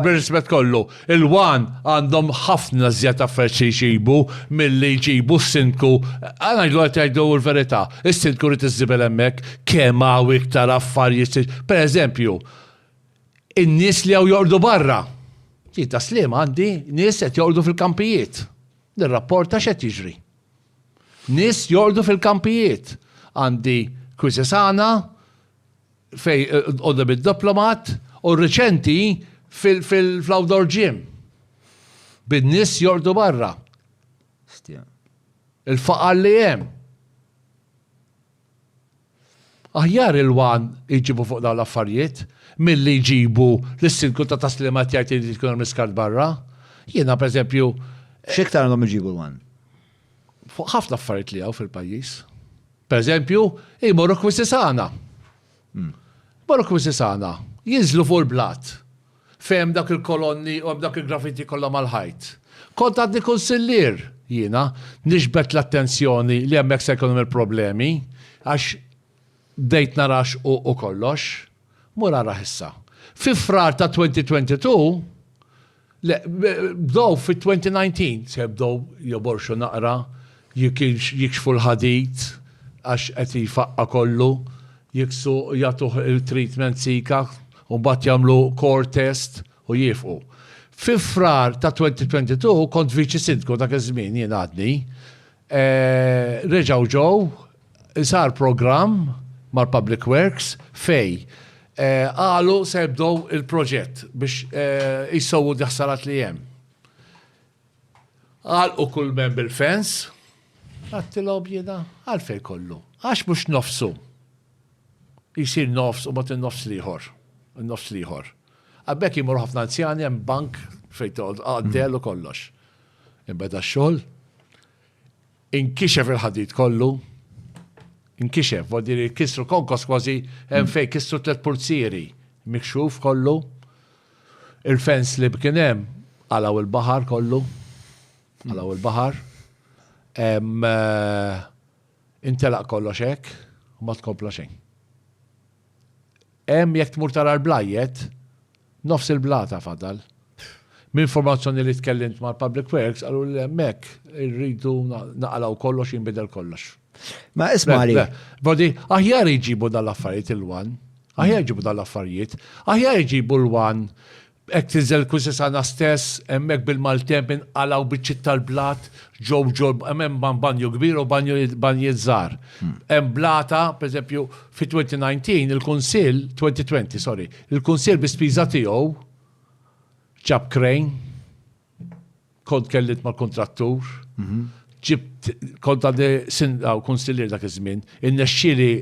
Bir-rispett kollu, il-one għandhom ħafna żjed affarijiet xi jġibu milli jġibu s-Sindku, ngħidlu qed jgħidu l-verità, is-Sindku jrid iż-żibel hemmhekk, kemm hawn iktar affarijiet, per eżempju, in-nies li hawn joqogħdu barra. Jien ta' Sliema għandi nies qed joqogħdu fil-kampijiet. Nirrapporta x'qed jiġri. Nies joqogħdu fil-kampijiet. Għandi Kwisisana, fej għodda bid-diplomat u reċenti fil-outdoor gym. Bid-nis jordu barra. Il-faqar li jem. Aħjar il-wan iġibu fuq dawn l-affarijiet mill-li jġibu l-silku ta' taslimat jgħid li tkun miskart barra. Jiena per eżempju. Xiktar għandhom iġibu l-wan? Fuq ħafna affarijiet li għaw fil-pajis. Per eżempju, jmorru kwisisana. Jmorru kwisisana, jinżlu fuq il-blat. Fejn dak il-kolonni u dak il-graffiti kollha mal-ħajt. Kont għadni kunsillier, jiena, nixbet l-attenzjoni li hemmhekk se jkun hemm il-problemi, għax bdejt nara xquq u kollox. Mur arah issa. Fi Frar ta' 2022, Le, bdow fit-2019 se jibdew joborxu naqra, jekk jikxfu l-ħadid għax qed jfaqqa' kollu, jiksu jagħtuh il-treatment Zika u mbagħad jagħmlu core test u jiefqu. Fi Frar ta' 2022 kont Viċi Sindku dak iż-żmien jien għadni, Reġgħu ġew, sar programm mal-Public Works fej qalu se jibdew il-proġett biex jsewwu d-ħsarat li hemm. Għalqu kull mem bil-fence, għattilhom jiena għalfejn kollu. Għax mhux nofsu jsir nofs u mbagħad in-nofs l-ieħor, in-nofs l-ieħor. Għal b'hekk jmorru ħafna anzjani hemm bank fejn toqgħod qaddel u kollox. Inbeda x-xogħol, inkixef il-ħadid kollu, inkixef, vuol dire kisru konkos kważi hemm mm. fejn kisru tliet pulzieri, mikxuf kollu, il-fens li kien hemm għalaw il-baħar kollu, għalaw il-baħar. Eh, Intelaq kollox hekk u ma tkompla xejn. Hemm jekk tmur tara l-blajjet, nofs il-blata fadal. M'informazzjoni li tkellimt mal-Public Works qaluli li hemmhekk irridu naqalgħu kollox jinbidel kollox. Ma ismali. Bodi, aħjar iġibu dal-affarijiet il-wan. Aħjar iġibu dal-affarijiet. Aħjar iġibu l-wan Hekk tinżel Kusisana stess, hemmhekk bil-maltemp inqalgħu biċċiet tal-blat ġo ġo, hemm banju kbir u banjiet żgħar. Hemm blata, pereżempju, fit-2019 il-Kunsill, 2020, sorry, il-Kunsill bi spiża tiegħu ġab crane, kont tkellimt mal-kuntrattur, ġibt, kont għandi Sindaku, Kunsillier dak iż-żmien, irnexxieli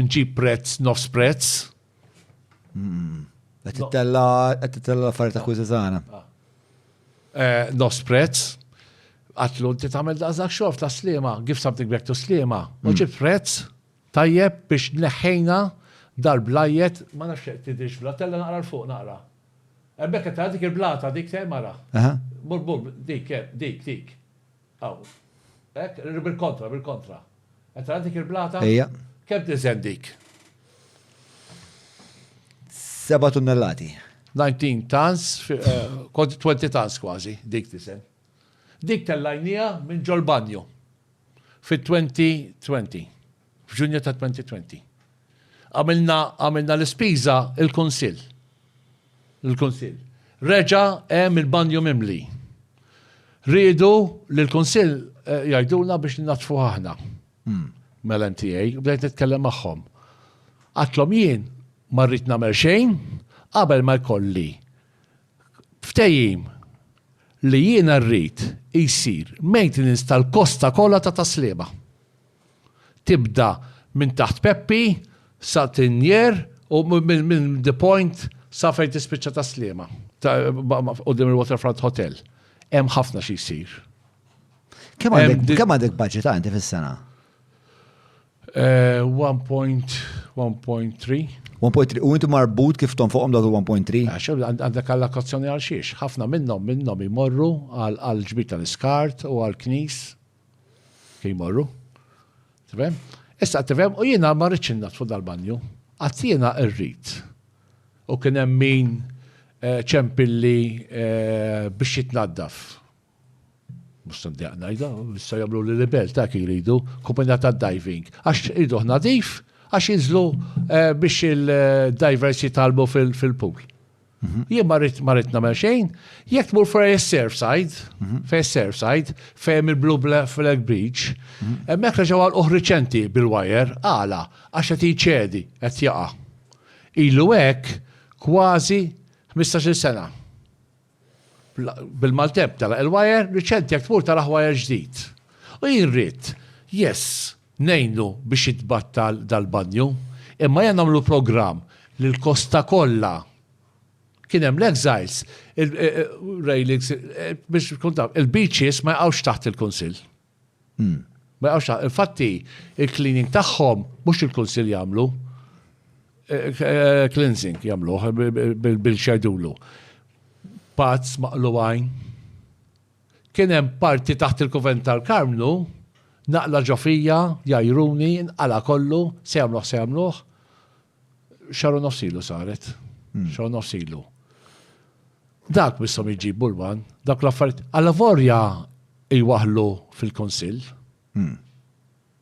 nġib prezz, nofs prezz, Hmm. Qed titella qed titella l-affarijiet ta' kwiżi tagħna. Ah. Eh, nos prezz, għatlu inti tagħmel daqsdak xof ta' slima, give something back to slima, u hmm. ġib prezz tajjeb biex neħħejna dal-blajjet, ma nafx tidix bla, tella naqra l-fuq naqra. Ebbek qed dik il-blata dik te mara. Bur bur dik eh, dik dik. Hawn. Hekk, bil-kontra, bil-kontra. Qed tara dik il-blata? Ejja. Kemm tiżen dik? Seba' tunnellati. 19 tons, 20 eh, tons kważi, dik tiżen. Dik tellajnija minn ġol-banju. Fit-2020. F'Ġunju ta' 2020. Għamilna l-ispiża il-Kunsill. Il-Kunsill. Reġa' hemm il-banju mimli. Riedu li l-Kunsill eh, jgħidulna biex ninatfu aħna. Hmm. Mela NTA, bdejt nitkellem magħhom. Għatlhom jien ma rrid nagħmel xejn qabel ma jkolli ftejim li jiena rrid jisir maintenance tal-kosta kollha ta' taslima. Tibda minn taħt Peppi sa Tinjer u minn The Point sa fejn tispiċċa ta' Sliema, quddiem il-Waterfront Hotel. Hemm ħafna xi jsir. Kemm għandek budget inti fis-sena? 1.3. Eh, 1.3. U inti marbut kif tom fuqhom dawk il-1.3? Għandek allokazzjoni għal xiex. Ħafna minnhom minnhom imorru għal ġbita tal-iskart u għal knis Jmorru. Tifhem? Issa tifhem u jiena ma rridx innatfu dal-banju. Qatt jiena rrid. U kien hemm min eh, ċempilli eh, biex jitnaddaf. Musta ndejq ngħidha, issa jagħmlu li libel ta' kif jridu, kumpanija ta' diving. Għax irridu nadif, għax jinżlu eh, biex il-divers jitalbu fil-pool. Mhm. Jien ma rrit ma rrit nagħmel xejn, jekk tmur fej is-Surfside, mhm. fej is-Surfside, fejn il-Blue Flag Beach, mhm. hemmhekk reġgħu għal uħriċenti bil-wajer, għala, għax qed jċedi, qed jaqa'. Ilu hekk kważi 15-il sena. Bil-maltep tara il-wajer, riċenti jekk tmur tara wajer ġdid. U jien rrit, yes, Ngħinu biex jitbattal dal-banju, imma ejja nagħmlu programm li l-kosta kollha, kien hemm l-exiles, il-railings, biex tkun taf, il-beaches ma jaqgħux taħt il-Kunsill. Ma jaqgħux taħt. Infatti, il-cleaning tagħhom mhux il-Kunsill jagħmlu, cleansing jagħmluh bil-xejdulu. Pads maqlugħin. Kien hemm parti taħt il-Kuvenn tal-Karmnu, naqla ġo fija, jgħajruni, inqala' kollu, se jagħmluh se jagħmluh. Xahar u nofs ilu saret. Xahar u nofs ilu. Dak misshom jiġi Bulman, dak l-affarijiet, allavorja jwaħħlu fil-Kunsill.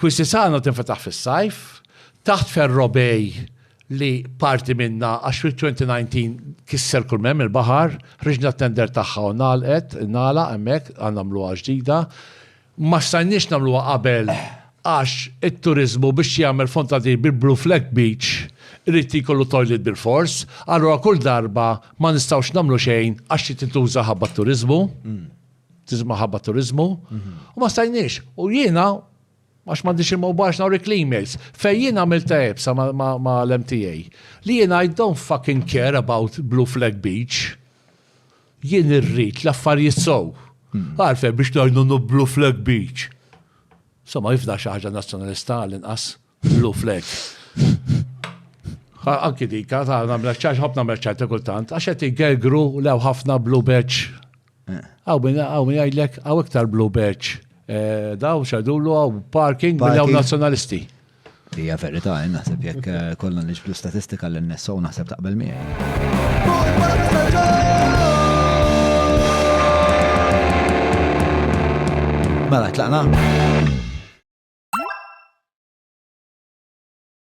Quisisano tinfetaħ fis-sajf, taħt Ferro Bay li parti minnha għax fit-2019 kisser kull m'hemm il-baħar, ħriġna t-tender tagħha u ngħalqet, ingħalaq hemmhekk, għad nagħmluha ġdida. Ma stajniex nagħmluha qabel għax it-turiżmu biex jagħmel fontanil bil-Blue Flag Beach irid li jkollu toilet bilfors, allura kull darba ma nistgħux nagħmlu xejn għax trid tintuża ħabba t-turiżmu. tiżma ħabba turizmu, mhm. u ma stajniex. U jiena, għax m'għandix il mawbax nawrik l-emails, fej jiena għamilta ebsa ma l-MTA, li jiena I don't fucking care about Blue Flag Beach, jien irrit l-affarijiet sow. Mhm. Għarfe biex najnu Blue Flag Beach. Somma jifda xaħġa nazjonalista għal-inqas. Blue flag. Anki dika, ta' namla ċaċ, ħob namla ċaċ kultant, għax għet jgergru lew ħafna blue badge. Eh. Għaw minn għaw minn għajlek, għaw iktar blue badge. Eh, daw xadullu għaw parking minn għaw nazjonalisti. Ija verita, għajna, eh, sepp jek kollon li ġblu statistika l-NSO naħseb taqbel miħaj. Mela, tlaqna?